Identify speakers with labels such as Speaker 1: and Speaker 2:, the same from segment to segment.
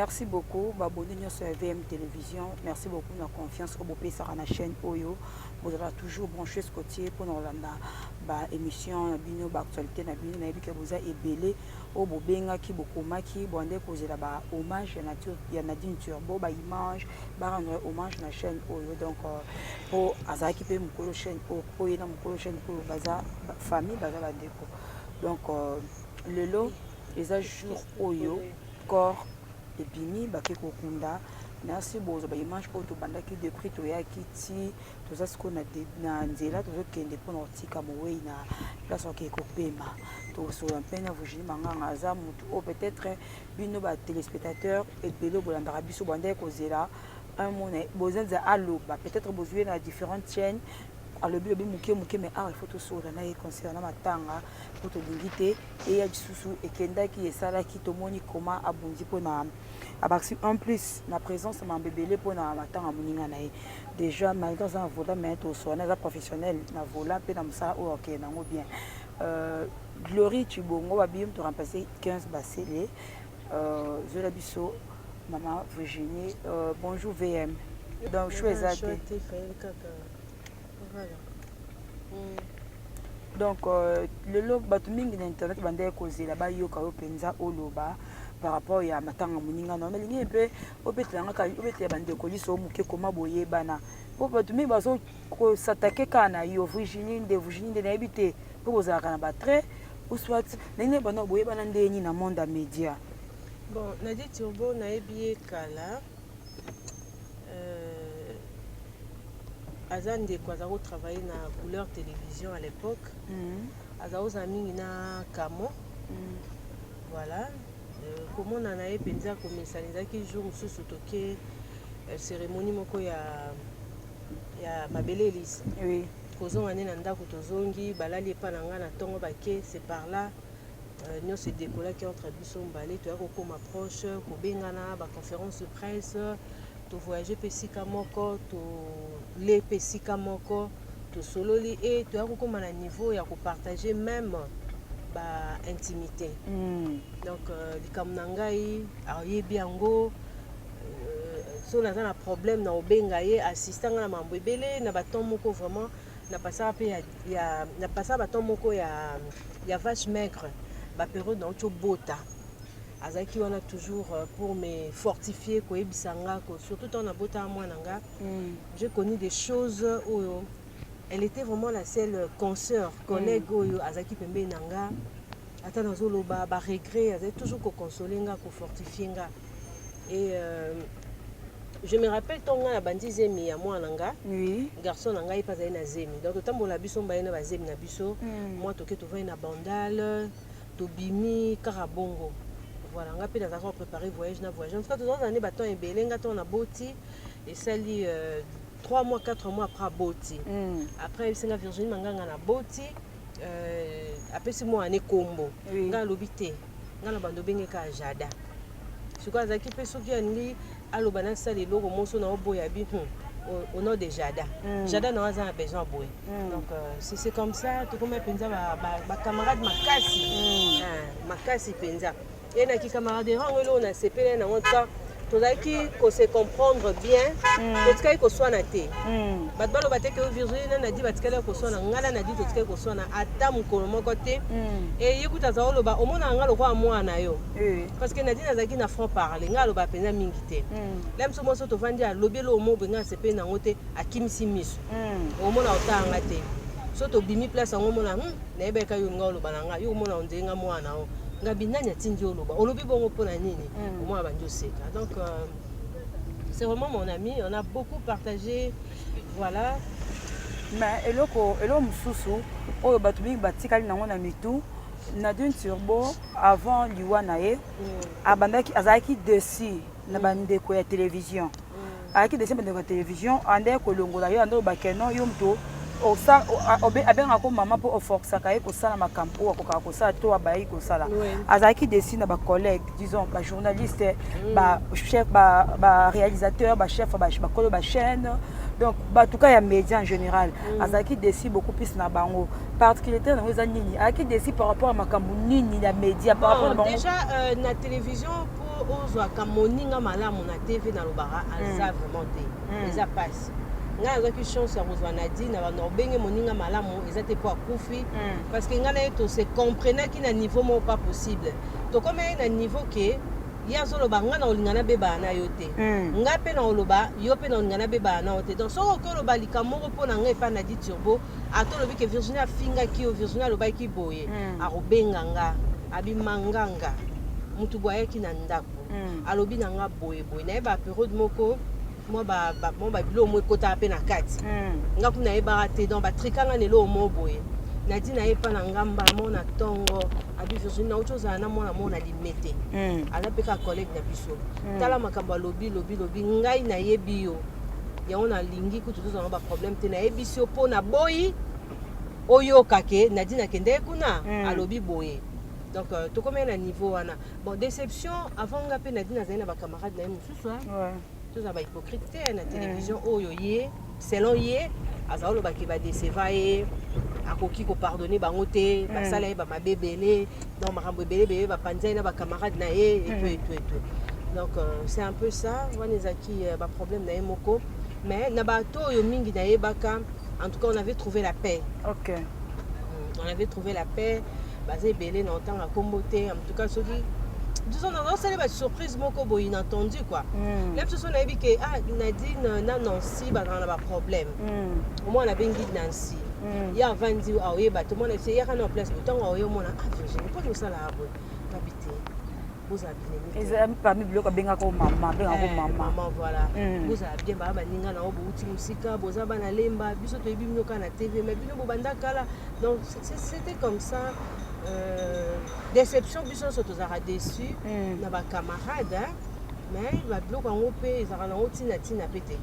Speaker 1: merci beaucoup baboni nyonso ya vm télévision merci beaucoup na confiance oyo bopesaka na chaîne oyo bozalaka toujours branche scotier mpo na kolanda baémission na bino baactualité na bino nayebi ke boza ebele oyo bobengaki bokomaki bande kozela ba hommage ya nature ya Nadine Turbo ba image ba rendre hommage na chaîne oyo donc po azalaki pe mukolo chaîne oyo po ye na mukolo chaîne oyo baza famille baza ba ndeko donc lelo eza jour oyo corps ebimi bake kokunda merci bozo ba image oyo tobandaki depuis toyaki ti toza sikoyo na nzela tozokende mpona kotika mowei na place okei kopema tosolola mpe na virginie manganga aza motu oyo peut-être bino ba téléspectateurs ebele bolandaka biso bandaki kozela un mot na bozenza aloba peut-être bozwi ye na différentes chaînes alobi lobi moke moke mais awa ifo tosolola na ye concernant matanga mpo tolingi te eya lisusu ekendaki esalaki tomoni koma abundi mpo na Abaksi en plus na presence mambo ebele mpo na matanga ya moninga na ye déjà malgré aza na vola mais toswana aza professionnel na vola mpe na mosala oyo akende nango bien euh, glory chibongo babiye moto remplace 15 basele euh, zola biso mama virginie euh, bonjour vm donc choix eza te Voilà. Mm. donc euh, lelo bato mingi na internet bandaki kozela bayoka yo mpenza oloba par rapport ya matanga moninga na nalingi mpe obetela ngaka obetela bandeko liso moke koma boyebana mpo bato mingi bazo kosatake kaka na yo virginie nde virginie nde nayebi te mpo bozalaka na batrait ou soit ndenge bana boyebana ndenge nini na monde ya média bon
Speaker 2: nadi turbo nayebi ye kala Euh, aza ndeko aza ko travailler na couleur télévision à l'époque mm. aza kozala mingi na camo mm. voilà euh, komona na ye mpenza komesana ezalaki jour mosusu toke euh, cérémonie moko ya ya mabele elisa oui. kozonga
Speaker 1: nde na ndako
Speaker 2: tozongi balali epa na ngai na ntongo bake c'est par là nionso e decollaki entre biso mibale toya ko koma proche ko bengana ba conference de presse to voyage pe esika moko to le pe esika moko to sololi et toya ko koma na niveau ya ko partager meme ba intimite mm. donc euh, likambo na ngai ayebi yango euh, so naza na problème na obenga ye assista nga na mambo ebele na ba temps moko vraiment na pasaka pe ya, ya na pasaka ba temps moko ya ya vache maigre ba periode na uti obota azalaki wana toujours euh, pour me fortifier koyebisa nga ko surtout ntango nabotaka mwana nga mm. j'ai connu des choses oyo elle était vraiment la seule consœur collègue mm. oyo azalaki pembeni na nga ata nazoloba baregret azalaki toujours kokonsole nga kofortifie nga et euh, je me rappelle ntango ngai nabandi zemi ya mwana nga oui. garçon na
Speaker 1: ngai mpe azali
Speaker 2: na zemi donc totambola biso mbaye na bazemi na biso mm. mwa toke tovandi na bandale tobimi kaka bongo voilà ngai mpe nazalaka koprépare voyage na voyage en tout cas tozalaka nde batemp ebele ngai ntango naboti esali euh, 3 mois 4 mois après aboti mm. après ayebisi nga virginie manganga naboti euh, apesi mwana ne kombo oui. ngai alobi te nga na bando benge ka jada sikoyo azalaki mpe soki alingi aloba nasala eloko moso na oboya bi hmm. au, au nom de Jada. Mm. Jada n'a pas besoin de mm. Donc euh, c'est comme ça, tout comme Penza, ma camarade m'a cassé. Mm. Ah, m'a cassé Penza. Et na ki camarade, on a sepelé, on a tozalaki ko se comprendre bien mm. totikaki koswana te mm. bato baloba te ke virginie na nadi batikali koswana ngai na nadi totikali koswana ata mokolo moko te mm. eye kuta aza oloba omonaka ngai lokola mwana na yo parce que nadi nazalaki na franc parle ngai aloba mpenza mingi te la biso moso tovandi alobi eloo mobe ngai asepeli na yango te akimisi miso omona otala ngai te so tobimi place yango omona hmm, nayebaka yo ngai oloba na ngai yo omona ondenge ngai mwana na yo ngabi nani atindi oloba olobi bongo mpo na nini mm. omona bandi oseka donc euh, c'est vraiment mon ami on a beaucoup partagé voilà
Speaker 1: mais eloko eloko mosusu oyo bato mingi batikali nango na mitu nadine turbo avant liwa na ye mm. abandaki azalaki desi na mm. bandeko ya télévision ayaki deuxième ndeko ya television ande kolongola yo ande oloba ke non yo moto abengaka ko mama mpo oforcaka ye kosala makambo oyo akokaka kosala to abayaki kosala azalaki desi na bacollègue disons bajournaliste mm. bachef baréalisateur bachef bakolo bachaîne donc bato ka ya média en général mm. azalaki desi beaucoup plus na bango particularité na yango eza nini ayaki desi par rapport ya
Speaker 2: makambo
Speaker 1: nini ya
Speaker 2: média
Speaker 1: par rapport na bango déjà
Speaker 2: euh,
Speaker 1: na télévision po
Speaker 2: ozwaka moninga malamu na TV na lobaka aza mm. vraiment te mm. eza pasi ngai nazwaki chance ya kozwa nadine na banorbenge moninga malamu eza te mpo akufi mm. parce que ngai na ye tose comprenaki na niveau moko pas possible tokomaki na niveau ke ye azoloba ngai na olinga nabebana na yo te mm. ngai mpe na oloba yo mpe na olinga nabebana na yo te donc soki oki oloba likambo moko mpo na ngai epai na di turbo Ata olobi ke Virginie afingaki yo, Virginie alobaki boye, hmm. akobenga nga, abima nganga, mutu boye ayaki na ndako, hmm. alobi na nga boye boye, naye ba periode moko mwa babilo omo ekotaka mpe na kati hmm. nga kuna nayebaka te donc batrika nga na eloo mo boye nadi na ye mpa na nga mbala moko na ntongo abi virginie nauti ozala na mwana moko na limete hmm. aza mpe kaka collègue na biso hmm. tala makambo alobi lobi lobi ngai nayebi yo yango na lingi kutu tozwa na ba problème te nayebisi yo mpo naboyi oyoka ke nadine akendeki kuna mm. alobi boye donc euh, tokomei na niveau wana bon déception avant nga mpe nadine azali na bacamarade na ye mosusu ouais. tozala bahypocrite te na télévision mm. oyo ye selon ye azali olobaki badeseva ye akoki kopardonne bango te basala ye bamabe ebele donc makambo ebele bebe bapanza ye na bacamarade na ye eto eto eto donc euh, c'est un peu ça wana ezalaki euh, baproblème na ye moko mais na bato oyo mingi nayebaka en tout cas on avait trouvé la paix ok Mm, on avait trouvé la paix baza ebele na otanga nkombo te en tout cas soki disons nazosala ba surprise moko boye inattendu quoi Mm. na biso so nayebi ke ah nadine na nancy bazala na baproblème Mm. omwana abengi nancy mm. ye avandi aoyeba te omona biso eyaka na place ntango aoye omona ah virginie mpo tosala abo nabi te bozala bineeza parmi biloko abengaka
Speaker 1: o mama abengaka eh, mama voilà
Speaker 2: mm. bozala bien baa baninga na yo bouti mosika boza bana lemba biso toyebi bino kaka na tv mai bino bobanda kala donc c'était comme ça euh, déception biso nyonso tozalaka déçu mm. na bacamarade Mais ba biloko yango pe ezalaka nango tina tina pe te.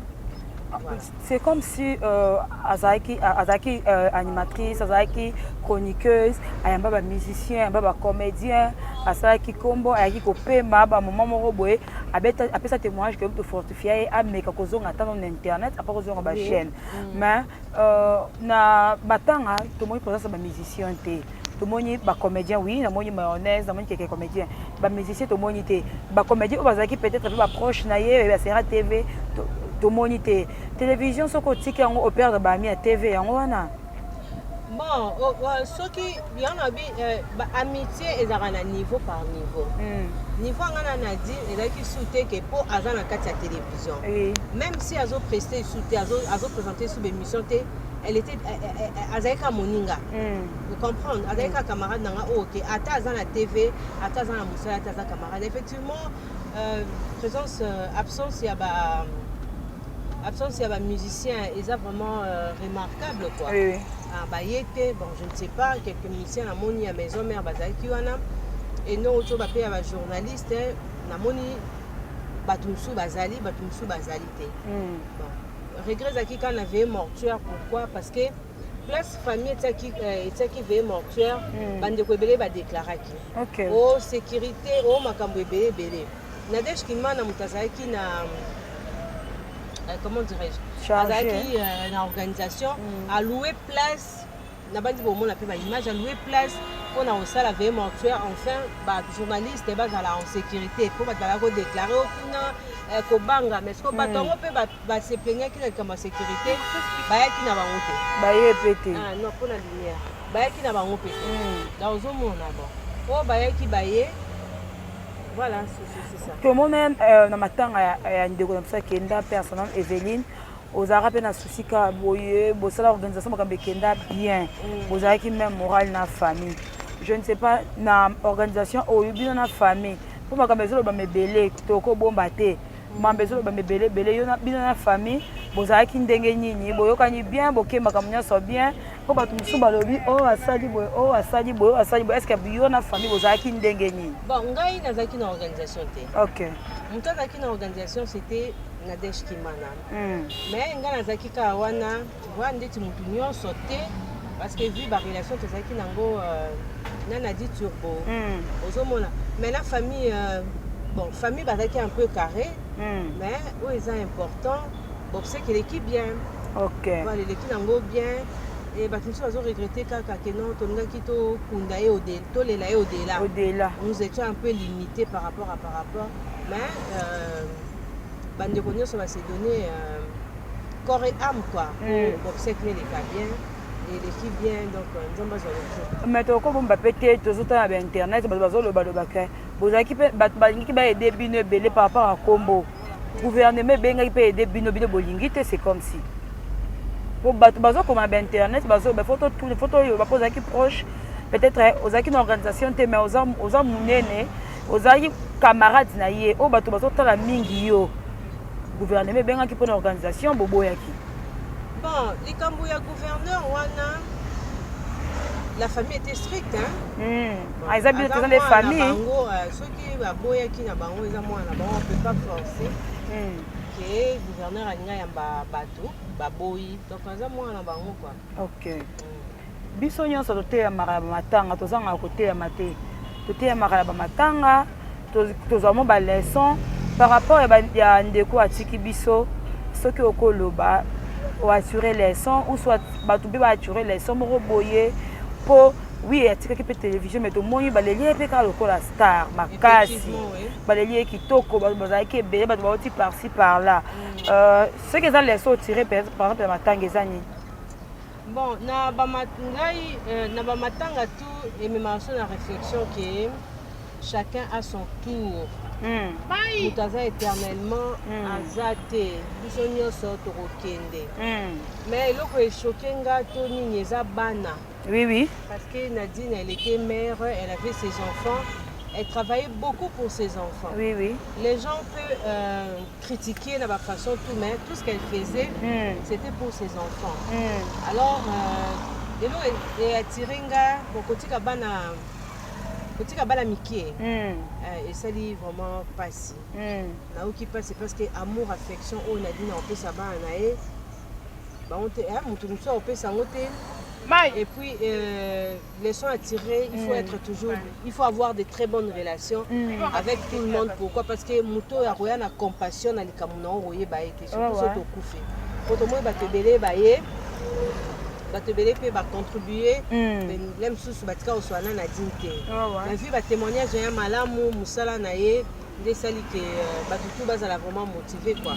Speaker 2: C'est comme si
Speaker 1: euh, azalaki azalaki euh, animatrice, azalaki chroniqueuse, ayamba ba musiciens, ayamba ba comédiens, asalaki kombo, ayaki kopema ba moment moko boye, abeta apesa témoignage que to fortifia ye ameka kozonga ata na internet, apa kozonga ba chaîne. Mais Euh, na batanga tomoni présence ya bamusicien te tomoni bacomédien oui namoni mayonnaise namoni keke comédien bamusicien tomoni te bacomédien oyo bazalaki peut-être mpe baproche na ye ya sera tv tomoni te télévision soki otiki yango operdre baami ya tv yango wana
Speaker 2: bon soki Yango nabi euh, ba amitié ezalaka na niveau par niveau. Mm. Niveau anga na Nadine ezalaki sous te que po aza na kati ya télévision. Oui. Même si azo prester sous te, azo azo présenter sous émission te, elle était azalaki ka moninga. Mm. Vous comprenez? Azalaki ka camarade nanga oh, OK, ata aza na TV, ata aza na musala, ata aza camarade. Effectivement, euh, présence euh, absence ya ba absence ya ba musiciens eza vraiment euh, remarquable quoi. Oui. Ah, baye te bon je ne sais pas quelques musiciens namoni ya maison mère bazalaki wana enoko tio bape ya bajournaliste namoni bato mosusu bazali bato mosusu bazali te hmm. bon. regret ezalaki kaka na veye mortuaire pourquoi parce que place famille etiaki euh, etiaki veye mortuaire hmm. bandeko ebele badeklaraki okay. o oh, sécurité o oh, makambo ebele ebele Nadège Kimana moto azalaki na euh, comment dirais-je azalaki euh, na organisation mm. aloue place nabandi komona mpe baimage aloue place mpo na kosala veye mortuaire enfin bajournaliste bazala en sécurité mpo bato bazala kodeklare o kuna euh, kobanga mais siko bato yango mpe base plaignaki na likambo ya sécurité bayaki na bango te baye mpe te ah,
Speaker 1: non mpo na
Speaker 2: lumière bayaki na bango mpe te mm. donc ozomona bon oyo bayaki baye Voilà, c'est ça. Tout le monde même euh, na
Speaker 1: matanga ya, ya ndeko na biso akenda mpe asanam Eveline ozalaka mpe na souci ka boye bosala organisation makambo ekenda bien mm. bozalaki même morale na famille je ne sais pas na organisation oyo bino na famille mpo makambo ezolobama ebele tokobomba te mamba ezoloba mebele ebele yo bino na famille bozalaki ndenge nini boyokani bien boke makambo nyonso bien mpo bato mosusu balobi o oh, asali boye o oh, asali boye o oh, asali boye eske yo na famille bozalaki ndenge nini bon ngai nazalaki
Speaker 2: na organisation te ok moto
Speaker 1: azalaki na
Speaker 2: organisation c'était nadège kimana hmm. mais ngai nazalaki kaka wana Voix ndeti mutu nyonso te parce que vu ba relation tozalaki nango euh, na Nadi Turbo mm. ozomona mais na famille euh, bon famille bazalaki un peu carré mm. mais oyo eza important bobseki eleki bien okay. voilà
Speaker 1: eleki nango
Speaker 2: bien e bato mosusu bazoregrete kaka ke non tolingaki tokunda ye tolela ye odela odela nous étions un peu limité par rapport à par rapport mais euh, bandeko nyonso basedonne euh, Corps et âme quoi. Mm. Obsèque nene va bien. eleki bien donc euh, nzambe azwa lokumu mais tokobomba mpe te
Speaker 1: tozotala ba internet bato bazolobaloba ke bozalaki mpe bato balingaki baede bino ebele par rapport ya nkombo gouvernement ebengaki mpe ede bino bino bolingi te c'est comme si mpo bato bazokoma ba internet bazoloba fo totuna fo toyeba mpo ozalaki proche peut-être eh, ozalaki na organisation te mais oza monene ozalaki camarade na ye oyo bato bazotala mingi yo guvernema ebengaki mpo na organisation boboyaki bon
Speaker 2: likambo ya gouverneur wana la famille était stricte hmm. ah, eza bino
Speaker 1: toza nde famille bango euh, soki
Speaker 2: baboyaki na bango eza mwana na bango peut pas forcer hmm. ke gouverneur alinga yamba bato baboyi donc aza mwana na bango kua ok hmm.
Speaker 1: Biso nyonso toteyamaka na bamatanga, tozangaka koteyama te. Toteyamaka na bamatanga, tozwa mwa baleson par rapport ya ndeko atiki biso. Soki okoloba oassure leson ou soit bato mpe baassure leson moko boye mpo wi atikaki mpe televizio me tomoni baleli ye mpe kaka lokola star makasi baleli ye kitoko bato bazalaki ebele bato bauti parci par là mm. euh, soki eza leson otire par exemple ya matanga eza nini Bon,
Speaker 2: na ba ngai euh, na ba matanga tout et même en la réflexion que chacun a son tour. Hmm. moto aza éternellement hmm. aza te biso nyonso tokokende hmm. mais eloko echoke nga to nini eza bana oui oui parce
Speaker 1: que nadine
Speaker 2: elle était mère elle avait ses enfants elle travaillait beaucoup pour ses enfants oui oui les gens
Speaker 1: peut
Speaker 2: euh, critiquer na ba façon tout mais tout ce qu'elle faisait mm. c'était pour ses enfants mm. alors euh, elo e attirer nga bon kotika bana kotika bana mike mm. euh, esali vraiment pasi mm. nayoki pasi parce que amour affection oyo nadine akopesa bana na ye bango te eh, moto mosusu akopesa yango te mai et puis euh, leçon à tirer, il faut mm. être toujours, il faut avoir de très bonnes relations mm. avec tout le monde. Pourquoi Parce que moto ya koya na compassion na likambo na yo koyeba ye te, surtout soki tokufi. Mpo tomoni bato ebele baye bato ebele mpe bacontribue mm. le mosusu batika koswana na dine te nazwi batémoignage ya malamu mosala na ye nde esali ke euh, bato tu bazala vraiment motive quoi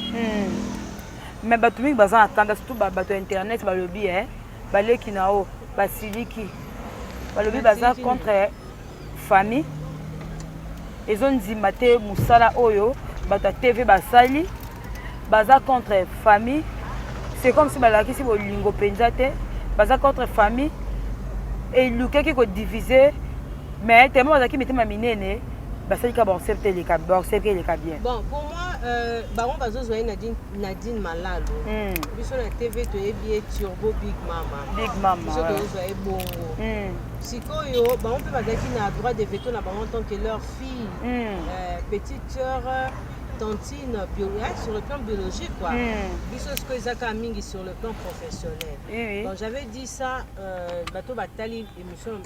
Speaker 1: mais bato mingi baza na tanda surtout bato ya internet balobi eh? baleki na yo basiliki balobi baza contre famille ezondima te mosala oyo bato ya tv basali baza contre famille c'est comme si balakisi bolingo mpenza te baza contre famille elukaki kodivise mais tellement bazalaki mitema minene basali ka baosepte eleka bien bon pour moi euh,
Speaker 2: bango bazozwa ye na dine Nadine Malalo hmm. biso na TV toyebi ye Turbo Big Mama Big Mama biso tozwa ye bongo hmm. sikoyo bango mpe bazalaki na droit de veto na bango en tant que leur fille hmm. euh, petite sœur tantine bio, hein, sur le plan biologique quoi mm. biso sikoyo ezaka mingi sur le plan professionnel oui, oui. donc j'avais dit ça euh, bato batali émission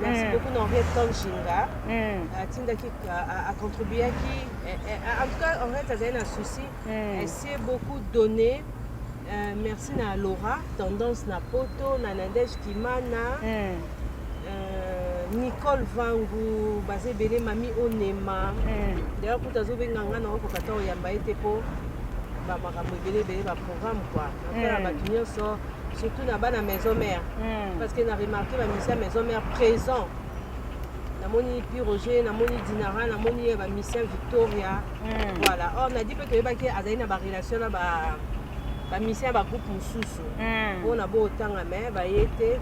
Speaker 2: Merci beaucoup na Henriette Kanjinga. Atindaki a contribuaki en tout cas Henriette azali na souci. Elle s'est beaucoup donné. Euh, merci na Laura, tendance na Poto, na Nadège Kimana. Euh, Nicole Vangu, baza ebele mami Onema. D'ailleurs kuta azobenga nga na okoka ta oyamba ye te mpo bamakambo ebele ebele programme quoi après la batu nyonso surtout na bana maison mère hmm. parce que na remarqué ba misia maison mère présent namoni pi roger namoni dinara namoni ba misia victoria hmm. voilà or na di mpe toyebaki azali na barelation na ba bamisia ya bagroupe mosusu hmm. mpo na bootanga me baye te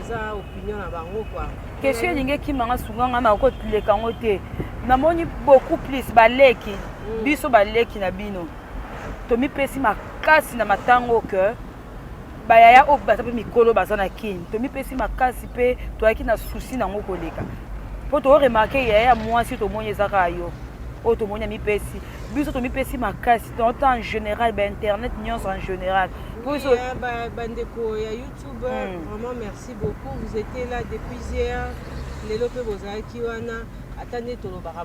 Speaker 2: eza opinion na bango kua question elingi ekima
Speaker 1: nga sunga nga na koleka yango te namoni beaucoup plus baleki biso baleki na bino tomipesi makasi na matango que bayaya oyo baza mpe mikolo baza na kini tomipesi makasi mpe toyaki na susi nango koleka mpo toremarke yaya ya mwasi tomoni eza kaka yo oyo tomoni amipesi biso tomipesi makasi tant en général bainternet nyonso en général biso euh,
Speaker 2: bandeko ya youtube hmm. vraiment merci beaucoup vous étiez là depuis hier lelo mpe bozalaki wana ata nde tolobaka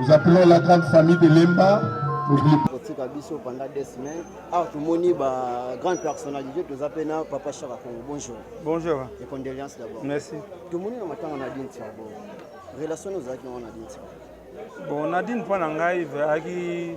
Speaker 3: Nous appelons la grande famille de Lemba. kotika
Speaker 4: biso pendant deux semaines awa ah, tomoni ba grande personnalité toza mpe na papa chaka congo bonjour bonjour et
Speaker 5: condoléance d'abord
Speaker 4: merci tomoni na
Speaker 5: matanga
Speaker 4: na dine tiabo relation ozalaki nango na dine tiabo bon nadine mpo na
Speaker 5: ngai azalaki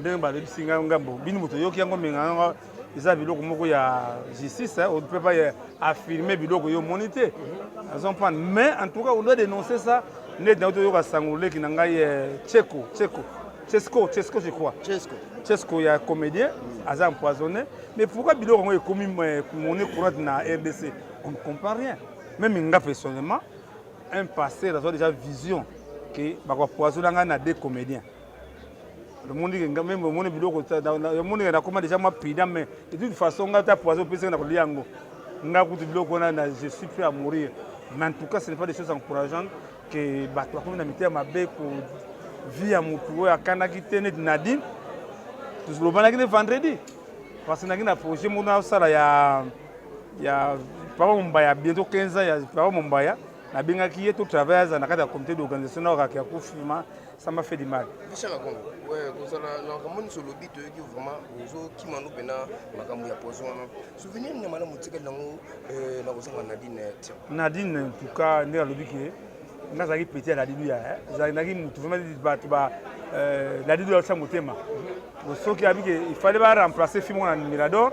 Speaker 5: ndenge balebisi ngai ngambo bino moto oyoki yango menganga eza biloko moko ya justice on peut pas affirmer biloko yo omoni te azomprendre mais en tout cas on doit dénoncer ça neti nauti oyoka sango leki na ngai cheko eh, cheko chesco chesco je crois chesco chesco ya comédien aza empoisonné mais pourquoi biloko yango ekomi eh, monnaie courante na rdc on ne comprend rien même nga personnellement un pasteur azwa déjà vision ke bakopoisona ngai na deux comédien omoni ke meme omoni biloko omoni ke nakoma déjà mwa pida mais de toute façon ngai ta poison opesi ngai na kolia yango ngai kutu biloko wana na je suis prêt à mourir mais en tout cas ce n'est pas des choses encourageantes ke bato bakomi na mitema mabe ko vie ya motu oyo akanaki te neti nadine tolobanaki ne vendredi parce que naki na projet mona osala ya ya papa mombaya bientôt 15 ans ya papa mombaya nabengaki ye to travaille aza na kati ya comité d'organisation na oraki ya kofima sama fait du mal bishaka kongo ouais
Speaker 6: kozala na makambo nyonso olobi toyoki vraiment ozokima no mpena makambo ya poison wana souvenir nini ya malamu otikali nango euh, na kozanga nadine nadine en tout cas
Speaker 5: nde alobi ke nga azalaki peti ya ladilu ya ezalaki motu vraimen bato ba euh, ladilu yalotya motema soki abike il fallait ba remplacer fimo na mirador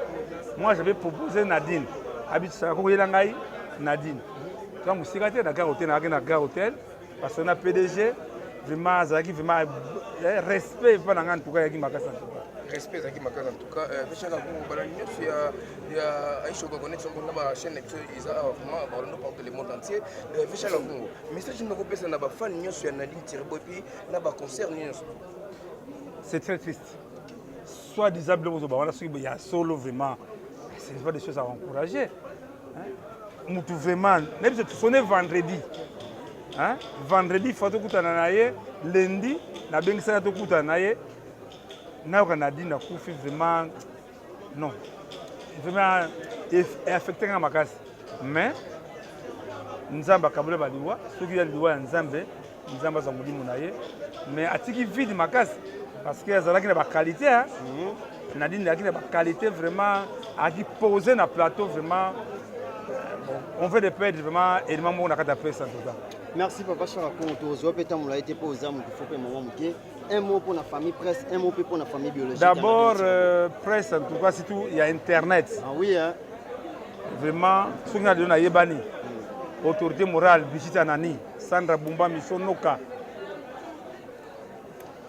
Speaker 5: moi j'avais proposé nadine abitisaka kokoyela ngai nadine toka mosika te na gare hotel nakaki na gare hotel parce que na pdg vraiment azalaki vraiment eh, respect epa na ngai ntuka yaki makasi na ntuka
Speaker 6: peshaka ko bala nyonso ya ya aisha ko connaître ko na ba chaîne to iza awa vraiment ba londo partout le monde entier euh, peshaka ko message ni ko pesa na ba fan nyonso ya Nadine Tirbo puis na ba concert nyonso
Speaker 5: c'est très triste soit disant biloko ozoba wana soki ya solo vraiment ce n'est pas des choses à encourager mutu vraiment na biso tosone vendredi vendredi fa tokutana na ye lendi nabengisaka tokutana na ye nayoka nadine akufi vraiment non vraiment affecte nga makasi mais nzambe akaboli baliwa soki ya liwa ya nzambe nzambe aza molimo na ye mais atiki vide makasi parce que azalaki na baqualité mhm. nadine azalaki na baqualité vraiment azalaki pose na plateau vraiment on veut de perdre vraiment élément moko na kati ya pesa en tout cas merci papa shaka
Speaker 4: kongo tozwa mpe ntango molai te mpo oza moto fo mpe mama moke un mot pour la famille presse, un mot pour la famille biologique. D'abord, euh,
Speaker 5: presse, en tout cas, c'est tout, il y a Internet. Ah oui,
Speaker 4: hein. Vraiment,
Speaker 5: ce qu'on a donné à Yébani, mm. autorité morale, Brigitte Anani, Sandra Bumba, Misso Noka,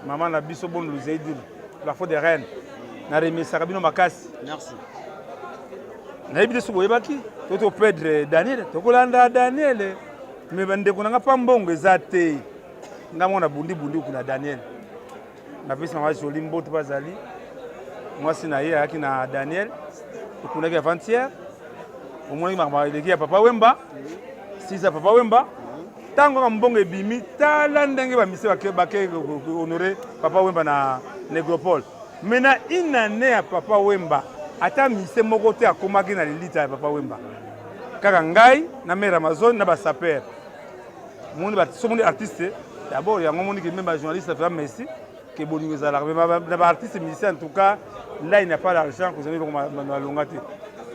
Speaker 5: Maman Nabiso Bon Louzeidil, la faute des reines, mm. na remerciaka bino makasi. Merci. nayebi te soki boyebaki to topedre daniele tokolanda daniele me bandeko na nga mpa mbongo eza te nga mwana bundi bundi kuna daniel napesi mama joli mbote bazali mwasi na ye ayaki na daniel okunaki avantiere omonaki makambo eleki ya papa wemba sisa papa wemba ntango kaka mbongo ebimi tala ndenge bamise bake honore papa wemba na negropole mai na une année ya papa wemba ata mise moko te akomaki na lilita ya papa wemba kaka ngai na mare amazone na basapere moni ba so moni artiste d'abord yango moni que même ba journaliste afika Messi que bolingo ezalaka mais na ba artiste musicien en tout cas là il n'a pas l'argent que zali na longa te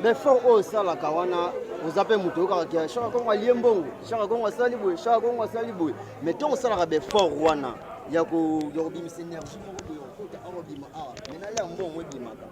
Speaker 5: mais fort oyo
Speaker 4: salaka wana oza mpe moto oyokaka ke shaka kongo alie mbongo shaka kongo asali boye shaka kongo asali boye mais ntongo osalaka befort wana ya kobimisa energie moko boye okota awa bima awa mais nala mbongo ebimaka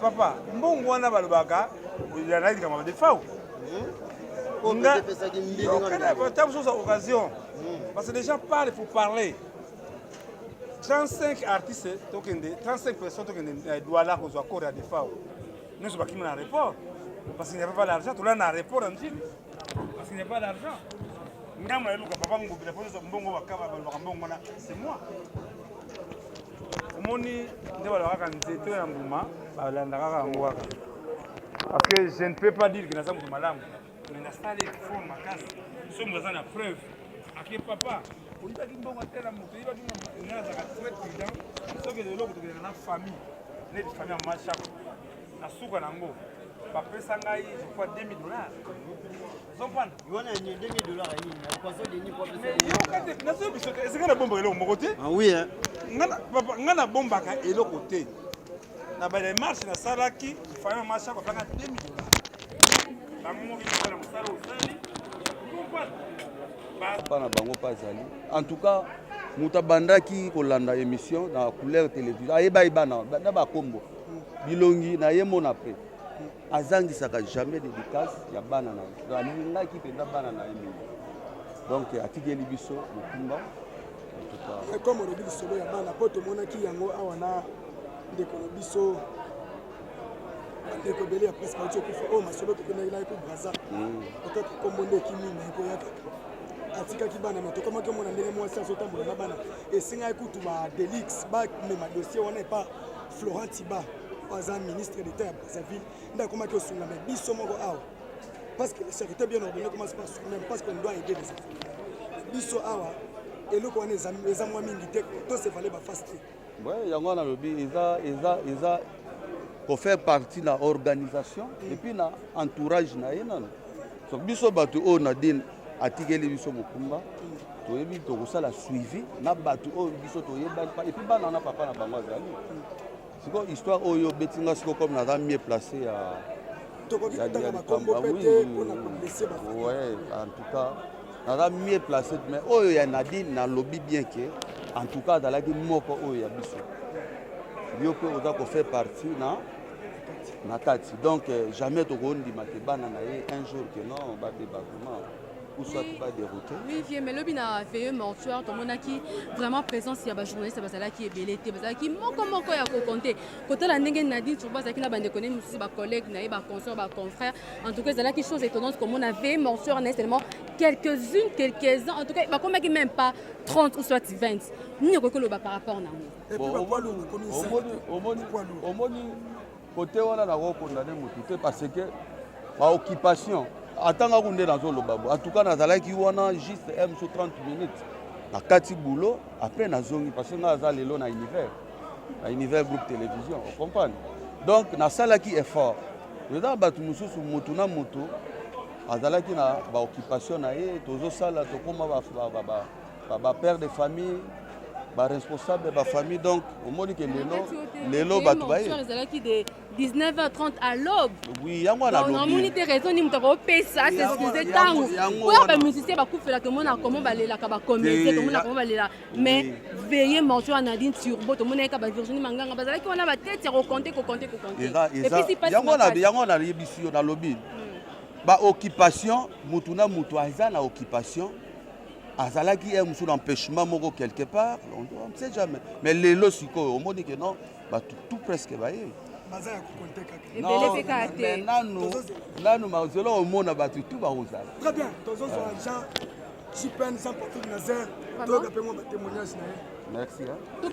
Speaker 5: Papa, mbongo wana balobaka ezalaki likambo ya defao ntango mosusu occasion parce que les gens parlent faut parler 35 artistes tokende 35 personnes tokende eh, douala kozwa accord ya defao nyonso bakimi na report parce qu'il n'y avait pas l'argent tolaa na report ya mokili parce qu'il n'y a pas l'argent ngambo ya eluka papa ngobila mpo nyonso mbongo bakaba balobaka mbongo wana c'est moi omoni nde balakaka nzete ya mbuma balandaka yango kaka parce que je ne peux pas dire que naza moto malamu mais nasali effort makasi soki moto aza na preuve ake papa oyibaki mbongo atela moto oyibaki nga nazalaka très prudent soki eloko tokendaka na famille neti famille ya mashako na suka na yango bapesa ngai je crois 2000 dollars esika nabombaka eloko moko te
Speaker 4: ngai
Speaker 5: nabombaka eloko te na bademarche nasalaki fana masha bapanga 2 million bango mokikana
Speaker 7: mosala osali mpa na bango mpe azali en tout cas moto abandaki kolanda émission na couleur télévision ayeba ye bana na bakombo bilongi na ye mona mpe azangisaka jamais dedicace ya bana na ye alingaki mpenza bana na ye mingi donc atikeli biso mokumba
Speaker 8: comme olobi lisolo ya bana mpo tomonaki yango awa na ndeko na biso bandeko ebele ya presse bauti okufa oyo oh, masolo tokendaki naye ko braza mm. otaki kombo nde ekimi na ekoya kaka atikaki bana na tokomaki omona ndenge mwasi azotambola na bana esengaki kutu ba delix bamema dossier wana epa florent tiba oyo aza ministre d'etat Brazzaville nde akomaki osunga me biso moko awa parce que la charité bien ordonnée commence par soi-même parce qu'on doit aider les autres biso awa eloko wana eza mwa mingi te to se vale baface te ouais, yango wana alobi
Speaker 7: eza eza eza kofaire partie na organisation mm. epuis na entourage na ye nano so biso bato oyo nadine atikeli biso mokumba mm. toyebi tokosala suivi na bato oyo biso toyebaki epuis bana na papa na bango azali mm. Siko histoire oyo beti nga siko comme naza mieux placé ya tokoki kotanga makombo pe te mpo na koblesse ba ouais en tout cas naza mieux placé mais oyo ya Nadine nalobi bien que en tout cas azalaki moko oyo ya biso yo mpe oza kofaire partie na na kati donc euh, jamais tokondima te bana na ye un jour que non babeba vraiment ou soit oui, ba dérouté oui vieux mais lobi na
Speaker 9: veilleux mortuaire tomonaki vraiment présence ya bajournaliste bazalaki ebele te bazalaki moko moko ya kokonte kotala ndenge nadine turbo azalaki na bandeko ne mosusu bacollègue na ye baconsort baconfrère en tout cas ezalaki chose étonnante komona veilleux mortuaire na ye seulement quelques-unes quelques-uns en tout cas bakomaki même pas 30 ou soit 20 nini okoki koloba par rapport na
Speaker 8: yango
Speaker 7: omoni Kote wana na ko condamner mutu te parce que ba occupation atanga kunde na zolo babu. En tout cas na zalaki wana juste M sur 30 minutes. Na kati boulot après na zongi parce que na za lelo na univers. Na univers groupe télévision, vous comprenez? Donc na salaki effort. Eza batu mususu mutu na mutu azalaki na ba occupation na ye tozosala tokoma ba, ba, ba, ba ba ba père de famille ba responsable ba famille donc omoni ke lelo lelo bato baye ezalaki de 19h30
Speaker 9: à l'aube oui yango wana lobi
Speaker 7: namoni te raison ni
Speaker 9: moto akopesa s'excuse ntango po ya bamusicien bakufela tomona comment balelaka bacomédien tomona comment balela mais veille morceau ya nadine turbo tomonaki ka bavirginie manganga bazalaki wana batete ya kokonte kokonte
Speaker 7: kokonte yango wana nayebisi yo nalobi hmm. baoccupation motu na motu aza na occupation azalaki ye mosusu na empêchement moko quelque part on ne sait jamais mais lelo sikoyo omoni ke non bato tout presque baye nanu nanu mazela omona bato tout bakozala très bien tozozwa
Speaker 8: jean jipn jean patrick nazer toyoka mpe mwa batémoignage na ye merci
Speaker 7: hein?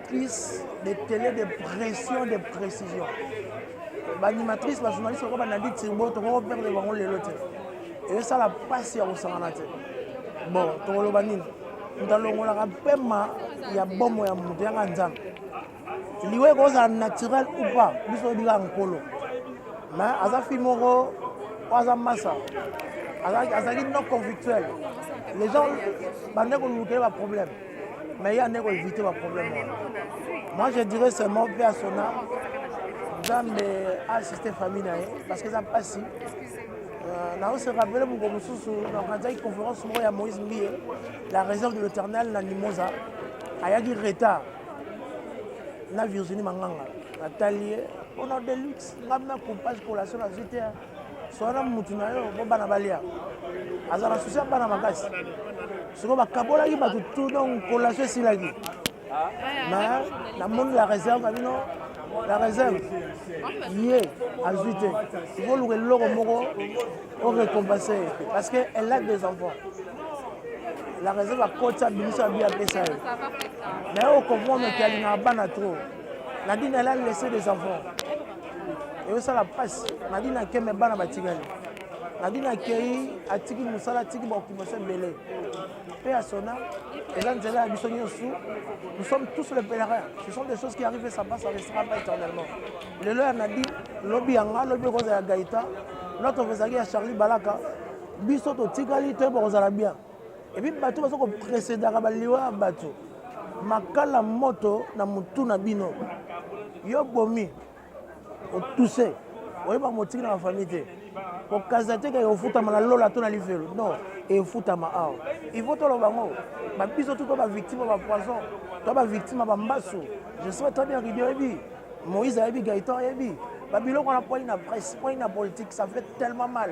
Speaker 10: Plus de tele de pression de précision baanimatrice bajournaliste lokola banadi tirbo tokoko perdre bango lelo te ezosala mpasi ya kosangana te bon tokoloba nini moto alongolaka mpema ya bomo ya moto yanga nzambe liwa ekozala naturel ou pas biso oyebika nkolo me aza fille moko oyo aza masa azalaki non conflictuel les gens bande kolukele baproblème Mais il y a des éviter le problème. Moi, je dirais seulement au père Sona, Nzambe assiste famille na ye parce que eza mpasi euh, naose rappele moko mosusu na organizaki conférence moko ya moïse mbiye la réserve de l'éternel na limosa ayaki retard na virginie manganga natali ye mpona deluxe ngai na compage collation nazwi te swana mutu na yo bo bana balia aza na susi ya bana makasi soko bakabolaki bato tout donc kolation esilaki mais namoni la réserve na bino la réserve ye azwi te ikoluka eloko moko orecompense ye parce que elle a des enfants la réserve akoti abimisi abi apesa ye naye okomprendre ke alingaka bana trop nadine elle a laissé des enfants ezosala mpasi nadi na keme bana batikali nadi na kei atiki mosala atiki baoccupation ebele mpe ya sona eza nzela ya biso nyonso nous sommes tous le pèlerin ce sont des choses qui arrivent ça passe ça restera pas éternellement lelo ya nadi lobi ya nga lobi ekozala ya gaita loto ezalaki ya charlie balaka biso totikali toyeba kozala bien epi bato baza kopresedaka baliwa ya bato makala moto na motu na bino yo bomi otuse oyeba motiki na bafamille te kokaza te keke ofutama na lola to na lifelo non efutama awa ifo toloba yango babiso tu to bavictime ya bapoison to bavictime ya bambasu je sais très bien ridi oyebi moïse ayebi gaitan ayebi babiloko wana poi na presse poi na politique ça fait tellement mal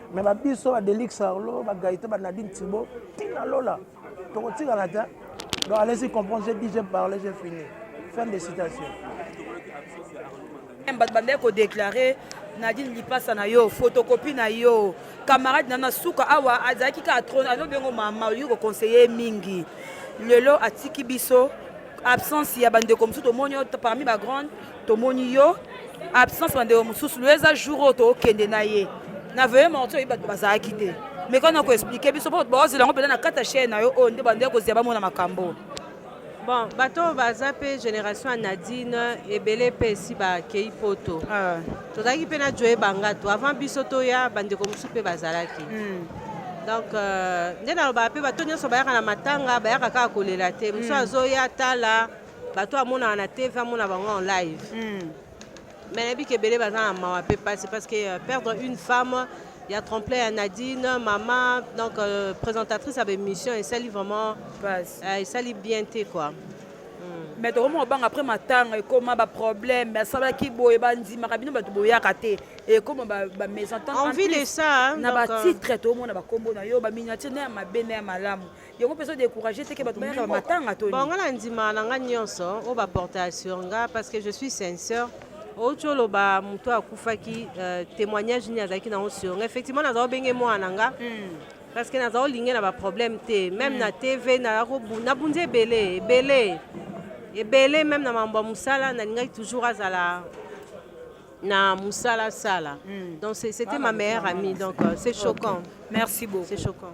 Speaker 10: me ba biso ba delix arlo ba gaite ba nadine tibo tina lola tokotikala te donc allez-y comprendre j'ai dit j'ai parlé j'ai fini fin de citation
Speaker 1: bato bandaki kodeklare nadine lipasa na yo photocopie na yo camarade na na suka awa azalaki kaka tro alobi yango mama olingi koconseille mingi lelo atiki biso absence ya bandeko mosusu tomoni parmi bagrande tomoni yo absence bandeko mosusu loye eza jour oyo tokende na ye na veye morti oyebi bato bazalaki te mais kani okoexplike biso mpo baozela yango mpela na kata chaine na yo oyo nde bande kozela bamona makambo bon
Speaker 2: bato oyo baza mpe génération ya nadine ebele mpe esi bakei poto ah. tozalaki mpe na joye bangato avant biso toya bandeko mosusu mpe bazalaki hmm. donc euh, nde nalobaka mpe bato nyonso bayaka na matanga bayaka kaka kolela te mosusu hmm. azoya tala bato amonaka na tv amona bango en live mm. mais nayebi ke ebele baza na mawa mpe mpasi parce que euh, perdre une femme il y a tremplin ya nadine mama donc euh, présentatrice ya baémission esali vraiment euh, esali bien te quoi mm. mais
Speaker 1: tokomona banga après matanga ekoma baproblème asalaki boye bandimaka bino bato boyaka te ekoma bamésentente envie de ça
Speaker 2: na batitre euh,
Speaker 1: tokomona bakombo na yo baminiature na ya mabe na ya malamu yango mpe ezodecourage te ke bato bayaka bamatanga to bongo na ndima na ngai
Speaker 2: nyonso oyo baporta ya sur nga parce que je suis sincère outi oloba moto akufaki euh, témoignage nini azalaki nango sur nga effectivement nazala obenge mwana na nga hmm. parce que nazala olinge na baproblème te même hmm. na tv nabundi ebele ebele ebele même na mambo ya mosala nalingaki toujours azala na musala sala hmm. donc c'était ah, ma meilleure amie donc euh, c'est choquant merci beaucoup c'est
Speaker 1: choquant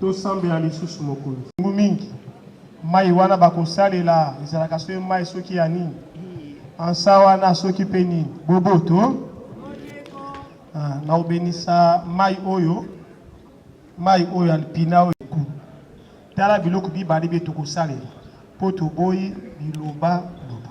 Speaker 11: Tosambela lisusu Mokonzi. Ntango mingi, mai wana bakosalela ezalaka soki mai soki ya nini? Ansa wana soki mpe nini? Boboto. Ah, na obenisa mai oyo, mai oyo alpina oyo eku. Tala biloko bibale bie tokosalela mpo toboyi biloba loba.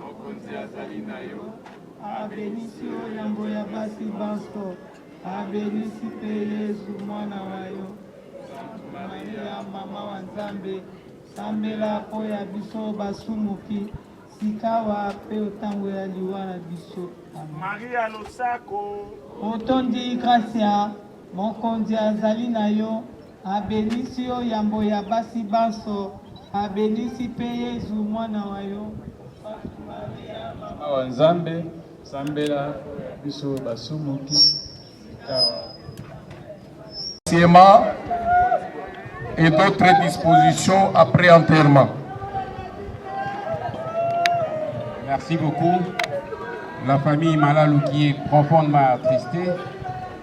Speaker 12: Mokonzi azali na yo. Abenisi yo yambo ya basi banso, abenisi mpe Yezu mwana wa yo. Santu Maria, mama wa Nzambe, sambela mpo ya biso basumuki, sikawa mpe otango ya liwa na biso. Amen. Maria
Speaker 11: losako. Otondi
Speaker 12: gracia, Mokonzi azali na yo. Abenisi yo yambo ya basi banso, abenisi pe Yezu, mwana wa yo. Sainte Maria, mama wa Nzambe,
Speaker 13: sambela biso basumuki sikawa.
Speaker 3: et d'autres dispositions après enterrement.
Speaker 14: Merci beaucoup. La famille Malalou qui est profondément attristée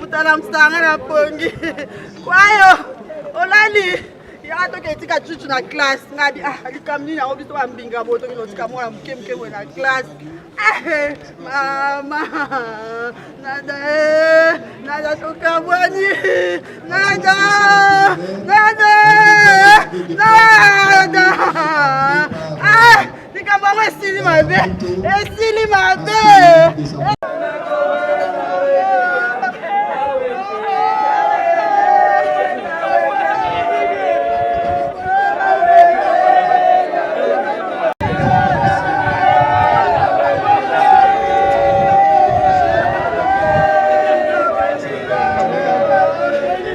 Speaker 15: mutala msanga na pongi kwayo olali ya toke etika cucu na classe ngabi ah likambo nini yango biso bambinga boye toki notika mwana moke moke boye na classe eh, mama nada eh, nada tokabwani nada nada nada ah, likambo yango esili mabe esili mabe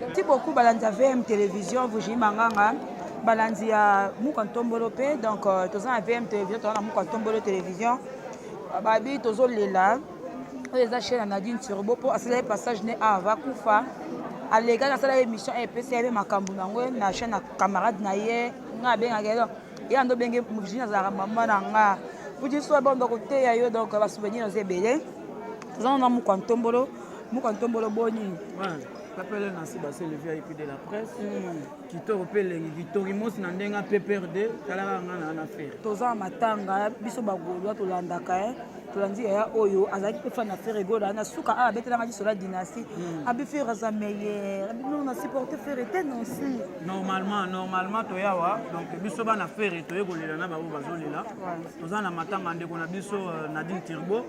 Speaker 1: Merci beaucoup balandi ya VM Télévision Vuji Manganga balandi ya Muka Ntombolo mpe donc euh, toza na VM Télévision toza na Muka Ntombolo Télévision babi tozolela oyo eza chaine ya nadine turbo mpo asala ye passage ne a vakufa alekaki asala ye émission epesi ye mpe makambo na yango na chaine ya camarade na ye nga abengaka ye ye ando benge virginie azalaka mama na nga kuti so banda koteya yo donc basouvenir oza ebele toza nana mokwa ntombolo mokwa ntombolo boni
Speaker 16: Papele Nancy Bassé, le VIP de la presse. Mm. kitoko mpe elengi kitoki mosi na ndenge pprd talaka nga na na fere toza na matanga
Speaker 1: biso bagolwa tolandaka e tolandi yaya oyo azalaki mpe fana fere gola na suka a abetelanga liso la dynastie hmm. abi fere aza meilleur abi non na supporte fere te non si normalement normalement
Speaker 16: toyawa donc biso bana fere toye kolela na bango bazolela toza na matanga ndeko na biso euh, nadine tirbo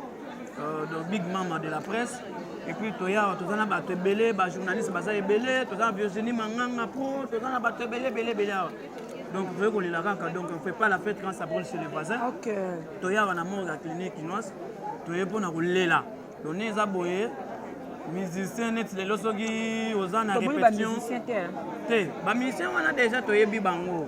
Speaker 16: Euh, le big mama de la presse epuis toya awa toza na bato ebele bajournaliste baza ebele toza na virginie manganga pro toza na bato ebele ebele ebele awa donc toye kolela kaka donc on fait pas la fête quand ça brûle chez les voisins toya awa na morgue ya clinique kinoise toye mpona kolela done eza boye musicien neti lelo soki oza na répétition te bamusicien wana déjà toyebi bango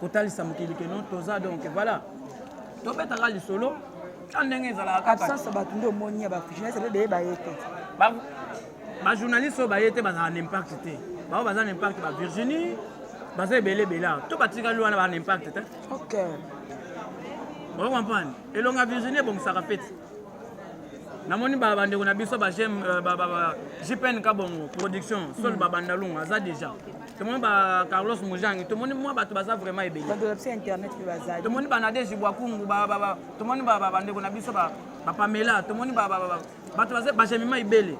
Speaker 16: kotalisa mokili ke non toza donc voilà tobetaka lisolo ta ndenge ezalaka kaka
Speaker 1: absence ya bato nde omoni ya bajournaliste mpe beye baye te
Speaker 16: bajournaliste oyo baye te bazala na impact te bango baza na impact ba virginie baza ebele ebele awa to batikali wana baa na impact te ok oyo comprendre elonga virginie ebongisaka feti namoni bandeko na biso ba jpn euh, kabongo production sol mm. babandalungu aza déjà tomoni ba carlos mujangi tomoni mwa bato baza vraiment ebele bato na biso ya internet mpe
Speaker 1: bazali tomoni ba nadege
Speaker 16: bwakungu ba- ba- ba- tomoni ba- ba- bandeko na biso ba- bapamela tomoni ba- ba- ba- ba- bato baza bajemima ebele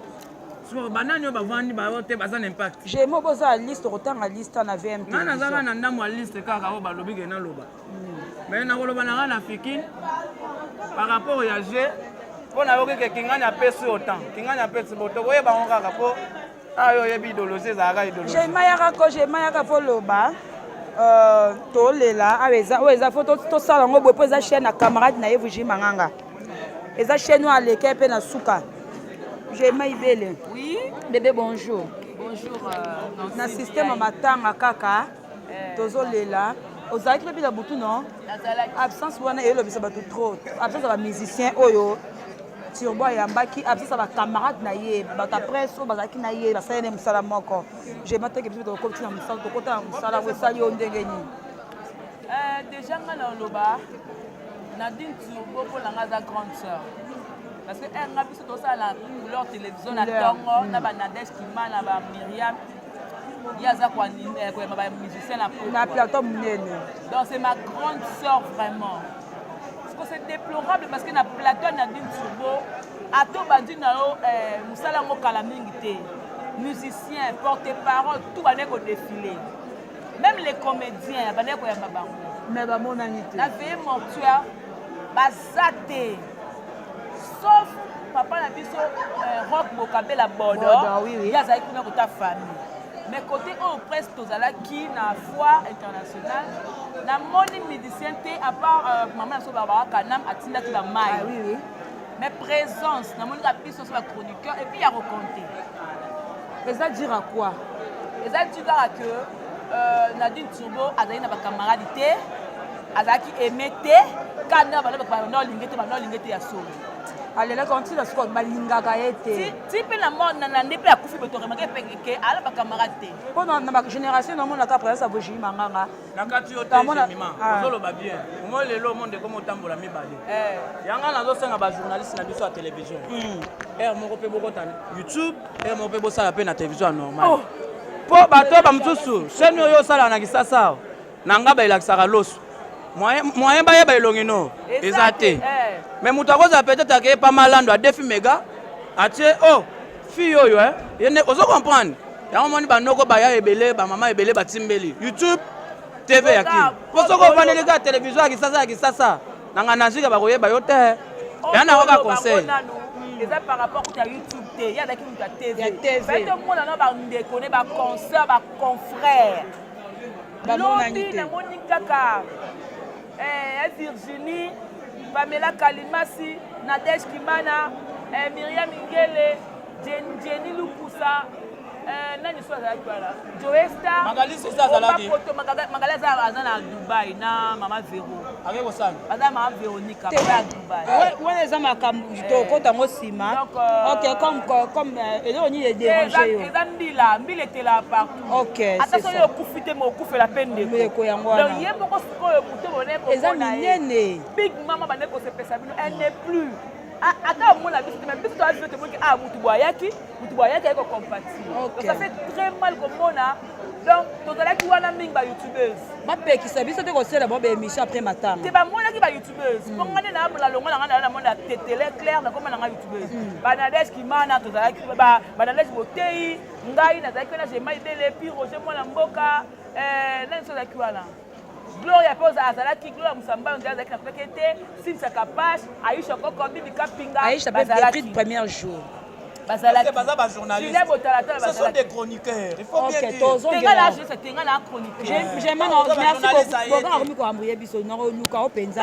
Speaker 16: soko banani oyo bavandi bayo te baza na impact jemo boza liste
Speaker 1: okotanga liste na vmp ngai naza kaka na ndambo ya
Speaker 16: liste kaka oyo balobi ke naloba me nakoloba na ngai na fikine par rapport ya je mpo nayoki ke kingani apesi yo temps kingani apesi bo tokoyeba yango kaka mpo Ah, yo oyebi idolozi ezalaka idolozi. Je mayaka ko je mayaka
Speaker 1: po loba. Euh, tolela awa eza oyo eza fo tosala yango boye mpo eza chaîne ya camarade na ye vuji manganga eza chaîne oyo aleke mpe na suka jema ibele oui. bebe bonjour bonjour euh, na système ya matanga kaka euh, tozolela ozalaki lobi na butu non absence wana elobisa bato trop absence ya bamusicien oyo Turbo ayambaki absasa ba camarades na ye bato ya presse oyo bazalaki na ye basali na ye mosala moko je mateke biso tokoti na mosala tokota na mosala yango esali yo ndenge nini eh,
Speaker 17: déjà ngai na oloba nadine turbo mpo na ngai aza grande sœur parce que eh, nga biso tosala na couleur télévision na tongo na banadège kimana ba miriam ye aza eh, koyamba ba musicien na plateau monene
Speaker 1: donc c'est ma
Speaker 17: grande sœur vraiment siko c'est déplorable parce que na plateau na dine turbo ato bandi na yo eh, mosala yango kala mingi te musicien porte parole tout bandaki kodefile même les comédiens bandaki koyamba bango mais bamonani
Speaker 1: te na veye mortuaire
Speaker 17: baza te sauf papa na biso euh, rock bokabela bodo ye azali kuna kota famille mais côté oyo presse tozalaki na foire internationale namoni médicien te à part euh, mama na so barbara kanam atindaki bamai ah, oui, oui. mais présence namoni ka biso so bachroniqueur epuis ya kokonte
Speaker 1: eza dire à quoi eza dire
Speaker 17: kaka que euh, nadine turbo azali na bacamarade te azalaki aime te kanda bana bato bana olinge te bana olinge te ya solo alelaki on tina
Speaker 1: sikoyo balingaka ye te ti mpe na
Speaker 17: nande mpe akufi boye toremake peke ala bacamarade te mpo na bagénération
Speaker 1: namonaka présence ya bojimi manganga nakati yo te
Speaker 16: jemima ah. ozoloba bien omo lelo omo ndeko motambola mibale eh. yanga nazosenga bajournaliste na biso ya télévision hmm. heure moko mpe bokota youtube heure moko mpe bosala mpe na télévision ya normal mpo oh. bato bamosusu chaîne oyo osalaka na kisasa Na ngaba elakisaka loso. Moyen, moyen bayeba elongi no. Eza te. Eh. Mais moto akozala peut-être akeye pa malando adefi mega atie oh fille oyo eh yende ozo comprendre yango moni banoko baya ebele bamama ebele batimbeli youtube tv ya kin mpo soki ofandeli kaka televizio ya kisasa ya kisasa na ngai nazika bakoyeba yo te oh, ya nango ka conseil eza par
Speaker 17: rapport kuta youtube te ye azalaki moto ya tv batomona na bandeko ne baconcert baconfrère lobi namoni kaka eh, eh, virginie pamela kalimasi nadege kimana eh, miriam ingele jeni lukusa eh, nani so azalaki wana joestaobapoto
Speaker 16: magali aza
Speaker 17: aza na dubai na mama vero aza
Speaker 16: na mama veronika
Speaker 17: ya dubai wana eza makambo
Speaker 1: tokota yango nsima ok comme eloko nini ederange yo eza mbila mbila
Speaker 17: etela par Okay, ata soki
Speaker 1: okufi te
Speaker 17: mais okufela mpe ndeko yango wana donc ye moko
Speaker 1: sikoyo
Speaker 17: moto bone eza minene
Speaker 1: big mama bande
Speaker 17: kosepesa bino elle n'est plus ata omona biso te mais biso toya biso tomoki ah motu boye ayaki motu boye ayaki ayaki kocompatir donc ça fait très mal komona donc tozalaki wana mingi bayoutubeurs bapekisa biso
Speaker 1: te kosala bo baémission après matanga te bamonaki bayoutubeurs
Speaker 17: mpo mm. ngani nalongo na ngai nala namona tetele claire nakoma na ngai youtubeuse mm. banadege kimana tozalaki banadege boteyi ngai nazalaki wana jema ibele pi roger mwana mboka eh, nani sozalaki wana gloria mpe azalaki gloria mosambano nde azalaki na peke te sinsa kapash aisha koko bibi kapinga aisha bazalaki
Speaker 1: premier jour bazalakibaza
Speaker 16: bajournaliste ce sont des chroniqueurs il faut bien dire tengala
Speaker 1: chroniqueur merci beaucoup
Speaker 17: boka
Speaker 1: akomi koambuye biso
Speaker 17: nakoluka
Speaker 1: o mpenza